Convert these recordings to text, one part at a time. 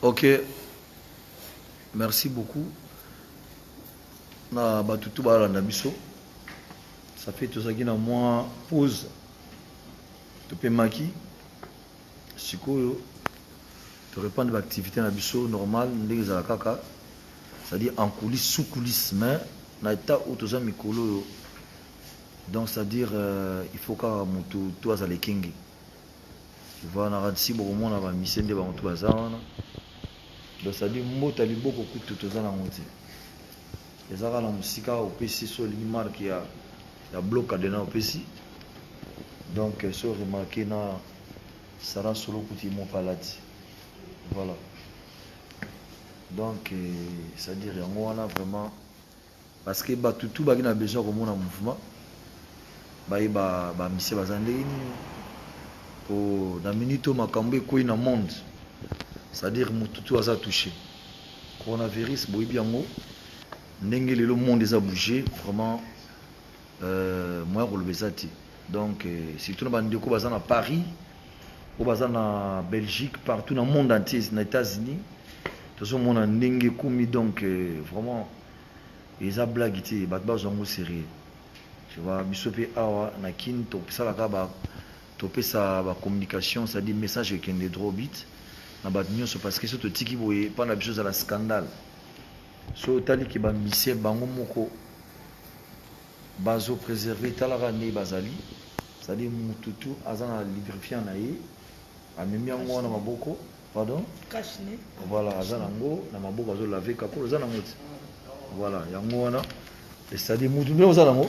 ok merci beaucoup na bato tu balanda biso ça fait tozalaki na mwa pause topemaki sikoyo torepandre baactivité na biso normal ndenge ezala kaka c'est-à-dire en coulisse sous coulisse mais na état oyo toza mikolo oyo Donc c'est à dire euh, il faut kaka mutu to azala ekengi. Tu vois na radisi bokomona ba mise nde bango to baza wana. Donc c'est à dire mbota liboko kutu toza na ngo te. Eza kaka na musika opesi so olingi marque ya ya bloc cadena opesi. Donc euh, so remarquer na Sarah Solo kuti mon palati. Voilà. Donc euh, c'est à dire yango wana vraiment Parce que batu tout baki na besoin komona mouvement baye ba ba mise baza ndenge nini po na minute oyo makambo ekwei na monde c'est à dire mutu tout aza touché coronavirus boyebi yango ndenge lelo monde eza bouger vraiment Euh, moyen koloba eza te donc euh, surtout na bandeko baza na paris oyo baza na belgique partout na monde entier na états-unis tozomona ndenge ekomi donc euh, vraiment eza blague te bato bazwa yango sérieux tova biso mpe awa na kin tosalaka ba topesa bacommunication c'est-à-dire message ekende drobit na bato nyonso parce que so totiki boye epai na biso ezala scandale Soki otali ke ba musiciens bango moko bazo preserver tala kaka ndenge bazali c'est-à-dire mutu tu aza na lubrifiant na ye amemi yango wana maboko pardon voilà aza nango na maboko azo lave kakolo aza nango ti voilà yango wana c'est-à-dire mutu nde oza nango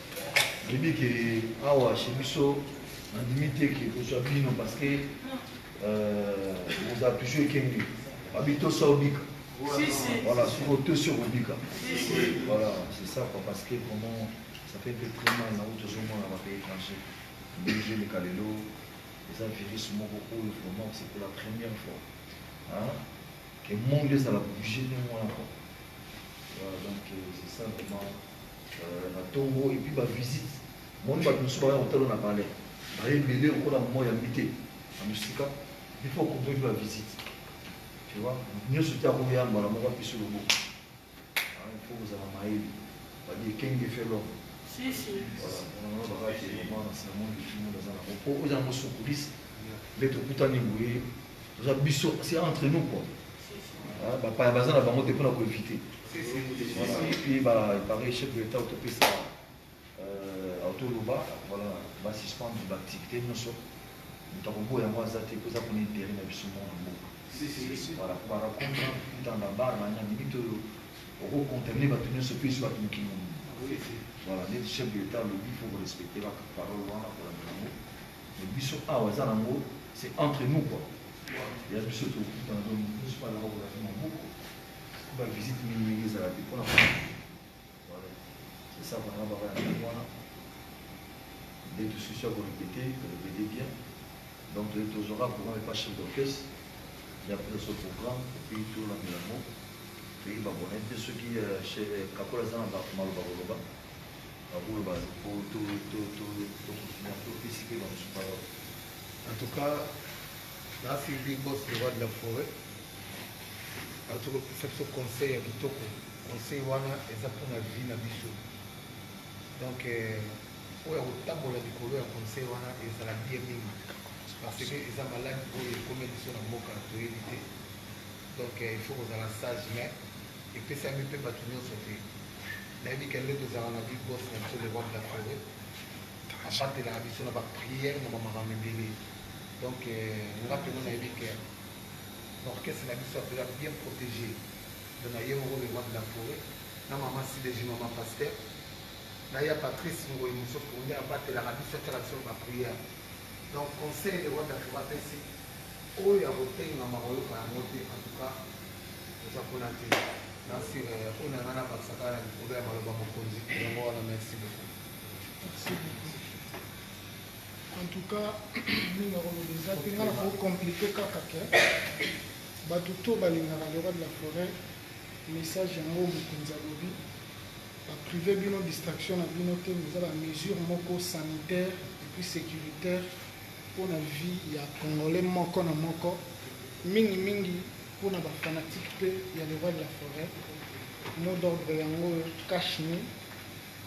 Oyebi ke awa chez biso nandimi te ke kozwa bino parce que ozala euh, toujours ekenge babi tosa obika voilà soki otosi okobika voilà c'est ça quoi parce que vraiment ça fait mpe très mal na uti ozomona bapays étranger ndenge ezoleka lelo eza virus moko oyo vraiment c'est pour la première fois que monde ezala bouge ndenge wana quoi donc euh, c'est ça vraiment euh, na tongo et puis ba visite moni bato mosusu baya kotala na palais baye ebele lokola moi ya mite na mosika bipo okotoki ba visite tu vois nyonso te akoya mbala moko apesi loboko ifo ah, kozala mayele badi ekenge felo bakati mwana sinamondifimondaza nango mpo oza yango sokulisi nde tokutani boye Oza biso c'est entre nous quoi. Ah, ba pa baza na bango te pona ko éviter. Et puis ba pareil chef de l'État autopé ça euh auto loba voilà ba suspendre ba activités non so. Moto akobo yango aza te ko za ko intérêt na biso mo na mboka. Si si si. Voilà ko ba raconter dans la barre na nani bito oko contaminer ba tenir ce pays sur la mokili. Voilà, les chefs de l'État le dit, il faut respecter la parole, voilà, pour la mais biso awa eza nango c'est entre nous quoi ya biso tokutana donc moto nyonso mpe azaka kolaki maboko mpo bavisite mingi mingi ezala te mpona voilà c'est ça bana baka ya ndenge wana nde tosusi ya korepete korepete bien donc toye tozwaka programme epa chef d'orchestre ya biso programme epuis tolanda yango toyeba bona mpe soki kakola aza na maloba koloba Baboulot ba po to to to to na to pesi pe ba mususu parole. En tout cas, na suivi big boss le roi de la foret. Ba to pesa biso conseil ya kitoko. Conseil wana eza po na vie na biso. Donc euh, oyo ya kotambola likolo ya conseil wana ezala bien mingi parce que eza malade oyo ekomi biso na mboka toyebi te donc euh, il faut kozala sage mais Epesami mpe bato nyonso te. Nayebi kende tozalaka na big boss na biso le roi de la forêt. Abatelaka biso na ba prières na ba makambo ebele. Donc euh, nga mpenza nayebi ke orchestre na biso apela bien protégé. Donc naye moko le roi de la forêt na mama sideji mama pasteur na ya patrice ngoyi mosusu nde abatelaka biso atyaka biso ba prière donc conseil de rwanda fo bapesi oyo ya kotengama koyoka yango te en tout cas Eza kuna te. Na sira ya kuna nga na bakisa kaka na likolo ya maloba mokonzi. Yango wana merci beaucoup. Merci beaucoup. En tout cas, mingi akoloba eza te nga na ko complique kaka ke bato to balingaka le roi de la forêt message yango mokonzi alobi baprive bino distraction na bino te eza bamesure moko sanitaire epuis sécuritaire mpo na vie ya congolais moko na moko, mingi mingi mpo na ba fanatiques mpe ya le roi de la foret, mot d'ordre yango oyo cash me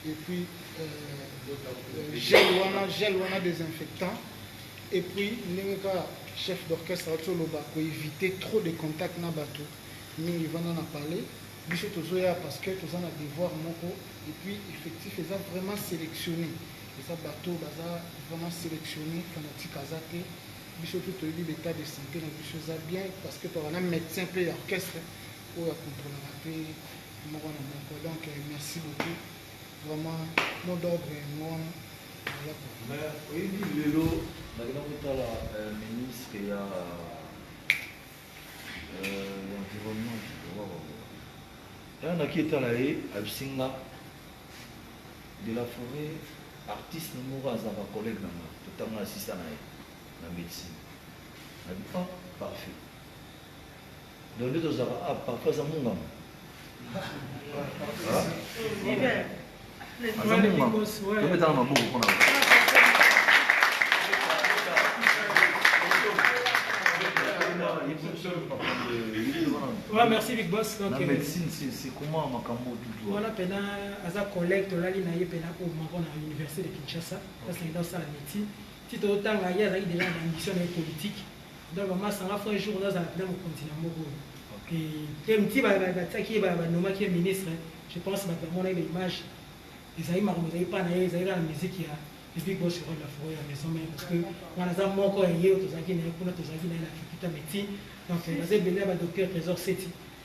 et puis euh, gel wana gel wana desinfectant et puis ndenge kaka chef d'orchestre auti oloba ko éviter trop de contact na bato mingi vanda na palais biso tozoya parce que toza na devoir moko et puis effectif eza vraiment sélectionné Eza bato oyo baza vraiment selectionner, fanatique aza te, biso tout toyebi ba etat de sante na biso eza bien parce que tozalaka na medecin pe ya orchestre oyo a controlaka pe moko na moko donc merci beaucoup vraiment mot d'ordre yango wana ayako Mais oyebi lelo nakenda kotala euh, ministre ya euh, environnement ntango naki etala ye abisi nga de la foret artiste moko aza ba collègue na nga totanga asista na ye na medecine na bi oh parfait donc nde tozalaka ah parfait aza munganga aza munganga tobetaka maboko mpo na Ouais, merci Big Boss. Okay. La médecine, c'est comment Makambo tout Wana pena aza collègue tolali na ye pena au Maroc na université de Kinshasa parce qu'il doit sala médecine ti to tanga ye azali déjà na ambition na politique donc maman sanga fo un jour na zala pena mokonzi na moko et et mti ba ba tsaki ye ba ba noma ki ministre je pense ba ba mona ba image ezali makambo ezali pa na ye ezali na musique ya le big boss roi de la forêt ya maison mère parce que wana aza moko ya ye tozalaki na ye kuna tozalaki na ye na faculté médecine donc aza ebele ya ba docteur trésor seti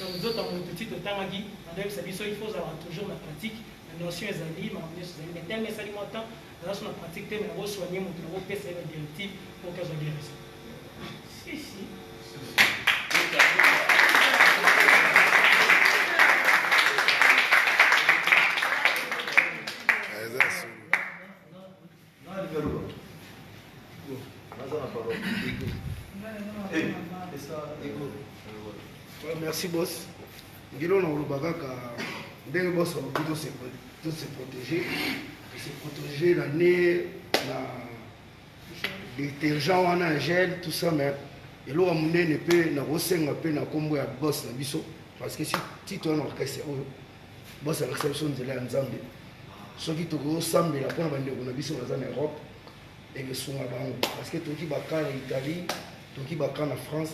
Donc nzoto ya mutu ti totangaki bazoyebisa biso il faut ozalaka toujours na pratique na notion ezali makambo nyonso ezali mais tellement esali mwa temps naza so na pratique te mais nako soigne moto nako pesa ye ba directive mpo ke azwa guérison si si merci boss ngilo na oloba kaka ndenge boss alobi tose protege tose protege na ne na détergent wana ya gel tout ça mais eloko ya monene mpe nakosenga mpe na nkombo ya boss na biso parce que si titre wana orchestre oyo bozalakisa biso nzela ya nzambe soki tokosambela mpona bandeko na biso baza na europe ekesunga bango parceke toki baka na italie toki baka na france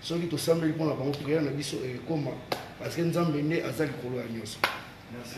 soki tosambeli mpona bango priere na biso ekoma parceke nzambe nde aza likolo ya nyonso Merci.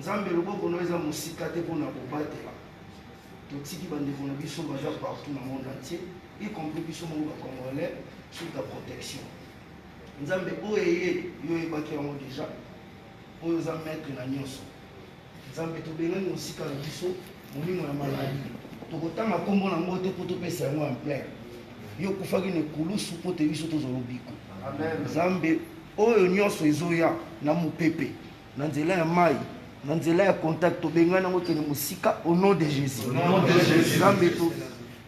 Nzambe loboko no eza mosika te pona kobatela totiki bandeko na biso baza partout na monde entier y compris biso moko ba congolais sous ta protection nzambe oyo eye yo oyebaki yango deja oyo oza maître na nyonso nzambe tobengani mosika na biso molimo ya maladi tokotanga nkombo na yango te mpo topesa yango en plein yo okufaki na ekulusu mpo te biso tozwa lobiko nzambe oyo nyonso ezoya na mopepe na nzela ya mai na nzela ya contact tobengani yango kende mosika au nom de jésus nzambe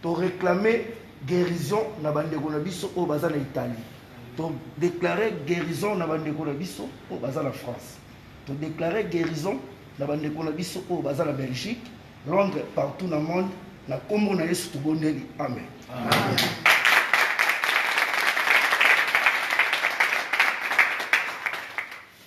toréclame guérison na bandeko na biso oyo baza na italie todeklare guérison na bandeko na biso oyo baza na france todeklare guérison na bandeko na biso oyo baza na belgique londres partout na monde na nkombo na yesu tobondeli amen, amen. amen.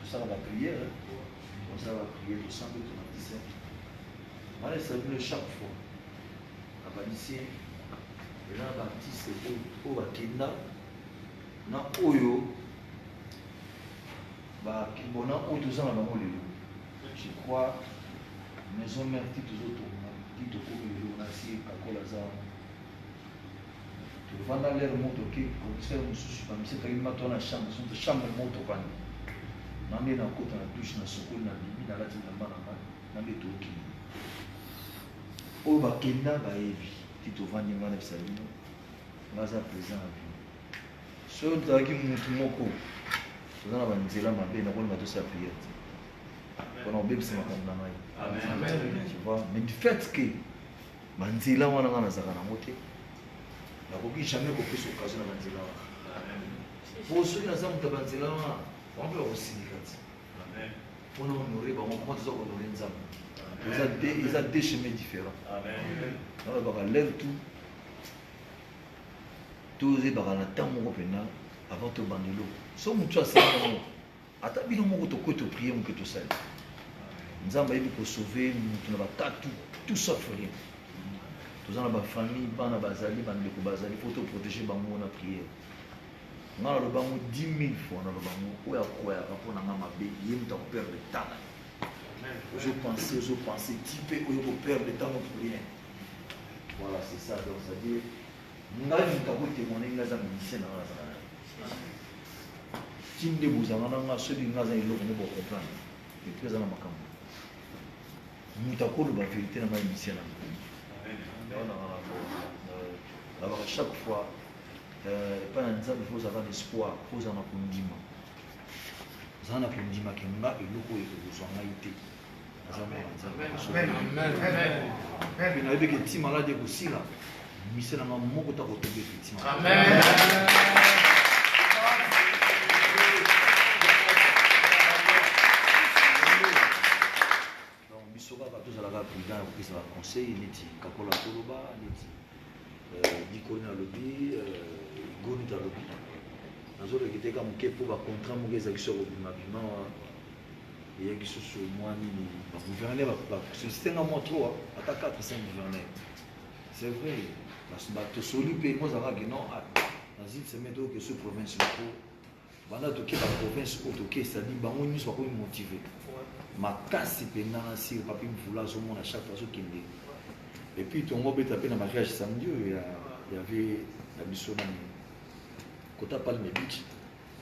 tosala ba prière tosala ba prière tosambe tobakisa wana esala bino chaque fois abakisi eza na baartiste oyo bakenda na oyo bakibona oyo toza na bango lelo je crois maison mère ti tozotonga ti tokomi lelo na sie kakola za Vanda lere moto oke komisere mosusu bamisekaki mata wana chambre soki chambre moto vanda na nde nakota na dushe na sokoli na bimi nalati bilamba na ngai na nde tookende oyo bakenda bayebi ti tovandi ngai na bisalino naza présent na bino soki ozalaki motu moko toza na banzela mabe nakoni batosala priere te mpona kobebisa makambo na ngai mais du fait que Banzela wana nga nazalaka nango te. Nakoki jamais kopesa occasion na banzela wana. Po soki naza moto ya banzela wana, bango mpe bakosindika ti. Mpo na honore bango, koma toza kohonore Nzambe. Eza deux, eza deux chemins différents. Nalobaka lève tout. Tozebaka na temps moko mpenza avant tobanda eloko. So motu asala yango, Ata bino moko tokoki to prier muke tosali. Nzambe ayebi ko sauver mutu na bakatu tout sauf rien. Toza na ba famille bana bazali bandeko bazali faut to protéger bango na prière. Nga naloba yango 10 000 fois naloba yango oyo akwayaka mpo na nga mabe ye moto akoperdre temps na ye ozopense ozopense ti mpe oyo koperdre temps moto rien voilà c'est ça donc c'est-à-dire ngai moto ako témoigner ngai aza musicien na ngai nazala na tinde bozanga na ngai soki ngai aza eloko nde bocomprendre epui aza na makambo moto akoloba verité na ngai musicien na nabaka chaque fois epai na nzambe fo ozala na espoir fo ozala na kondima ozala na kondima ke nga eloko oyo ekozwa ngai te aza mwana nzambe mpe nayebi ke ti maladi ekosila mise na nga moko ta kotoba effectivement donc biso kaka tozalaka prudent ya kopesa baconseil neti kakola toloba neti dikoli euh, nalobi euh, igoni talobi nazolekiteka moke mpo bacontra moke ezalaki soko bimabima eya lisusu mwa nini bagouverneur basoliste nga mwa tro ata 4 5 gouverneur c'est vrai tosoli mpe kozalaka ke non ah, nazili semaine toyoke su province moko banda toke baprovince oyo toke cetadi bango nyonso bakomi motive makasi mpenza na sire papi mvula azomona chaque fois azokende epuis tongo obeta mpe na mariage samedi oyo ya vie na biso nani kota palme bici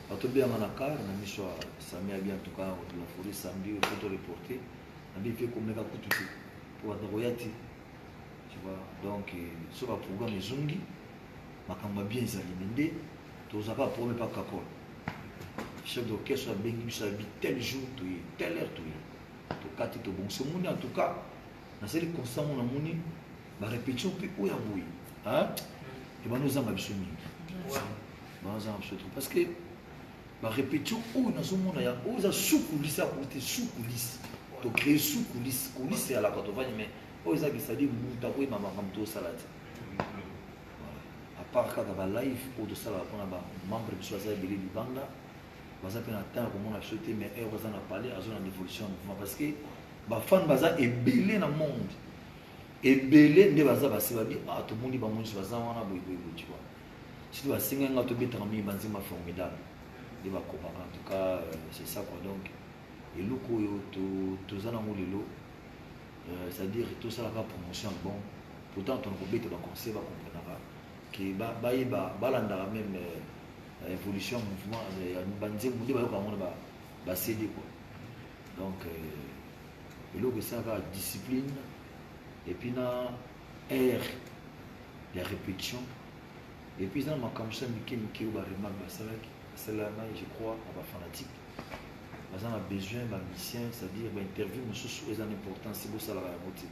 Bato bianga na car na miso ya Sami abi en tout cas de la forêt samedi il faut te reporter. Abi pe komeka kutu te. Pour bato koya te. Tu vois donc euh, so ba programme ezongi makambo ya bien ezali mais nde tozaka problème pa kakol. Chef d'orchestre abengi biso abi tel jour toye tel heure toye. Tokati tobongisa moni en tout cas nasali constat ngo namoni ba répétition mpe oyo ya boye ebanda ozanga biso mingi banda ozanga biso trop parce que ba répétition oyo nazomona ya oyo eza sukulisi ya kote sukulisi to créer sukulisi kulisi ya laka tovandi mais oyo eza bisadi moto akoyeba makambo tosala te apart kaka ba live oyo tosalaka mpona ba membre biso aza ebele libanda baza mpe na temps ya komona biso te mais heure baza na palais azo na devolution ya mouvement parce que bafane baza ebele na monde ebele nde baza basi babi ah tomoni bango nyonso baza wana boyeboyebo tu vois soki basengai nga tobetaka mingi banzemba formidable nde bakobaka en tout cas euh, c'est ça quoi donc eloko oyo toza nango lelo euh, c'est à dire tosalaka promotion ya bon pourtant tona kobeta baconseil bakomprenaka ke balandaka meme euh, Evolution ya mouvement euh, ya banzembo nde bayoka yango na basede kua donc euh, eloko esalaka discipline epuis na aire ya répétition epuis eza na makambo sa mike mike oyo baremarque basalaki basalelana je crois na bafanatique baza na besoin bamisien c'est-à-dire bainterview mosusu eza na importance bosalaka yango te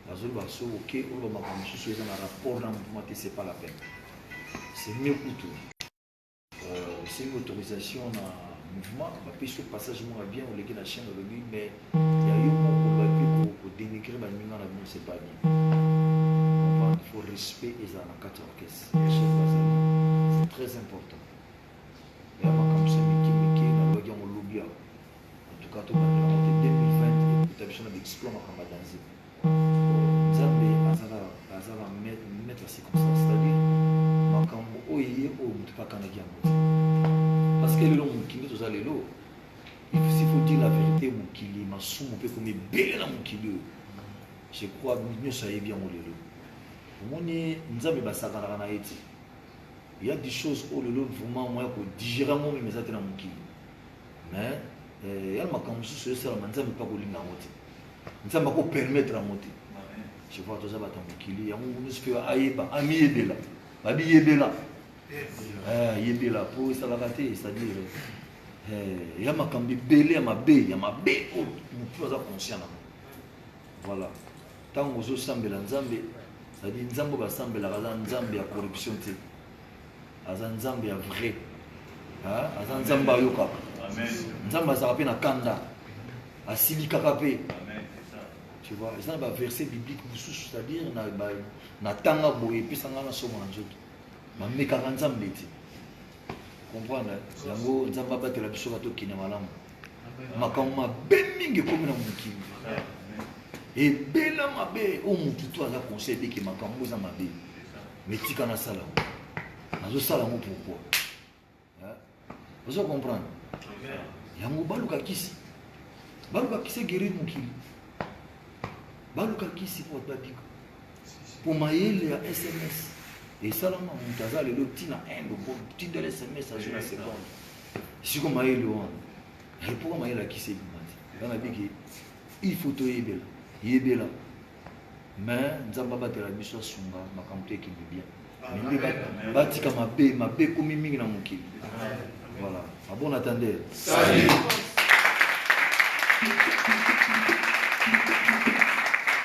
nazoloba so oke oloba makambo mosusu eza na rapport na mouvement te c'est pas la peine c'est mieux kutu euh, osengi autorisation na mouvement bapesi yo passage moko ya bien oleki na chaîne olobi mais ya yo moko bapi kodenigre baninga na bino c'est pas bien comprendre il faut respect ezala na kati ya orchestre chef bazali c'est très important ya makambo sa mike mike nalobaki yango lobi yango En tout cas, tout le monde a 2020 et biso na bexploit makambo ya danze. Nzambe azala azala maître ya circonstance, c'est-à-dire makambo oyo eye oyo moto mpe akanaki yango te. Parce que lelo mokili toza lelo, s'il faut dire la vérité, mokili masumu mpe ekomi ebele na mokili oyo. Je crois nyonso ayebi yango lelo. Omoni Nzambe basakanaka na ye te. Il y a des choses oyo lelo vraiment moya kodigere yango meme eza te na mokili. mais eh, ya makambo mosusu esalama nzambe mpe akolinga yango te nzambe akopermettre yango te je vois toza bato ya mokili yango mosusu mpe ayeba amiyebela babiyebela eh, yebela mpo esalaka te c'est-à-dire eh, ya makambo ebele ya mabe ya mabe oyo motu aza conscient nango voilà ntango ozosambela nzambe c'est-à-dire nzambe basambelaka aza nzambe ya corruption te aza nzambe ya vrai aza nzambe ayokaka nzambe azalaka mpe na kanda asilikaka mpe tu vois eza na baverset biblique mosusu c'est-à-dire natanga boye epesa ngai nasomo na nzoto bamekaka nzambe te comprendre yango nzambe abatela biso batokende malamu makambo mabe mingi ekomi na mokili ebela mabe oyo motu to aza conseil ebeke makambo oza mabe metika nasala yango nazosala yango pourkoi ozo comprendre yango baluka kisi baluka kisi egerir mokili baluka kisi po babika po mayele ya sms esalama moto aza lelo ntina inde tindela sms azwi na seconde siko mayele wana epoka mayele akisi ebima te nga nabiki il faut toyebela yebela mais nzambe abatela biso asunga makambo to ekende bien mende batika mabe mabe ekomi mingi na mokili voilà abon attendeur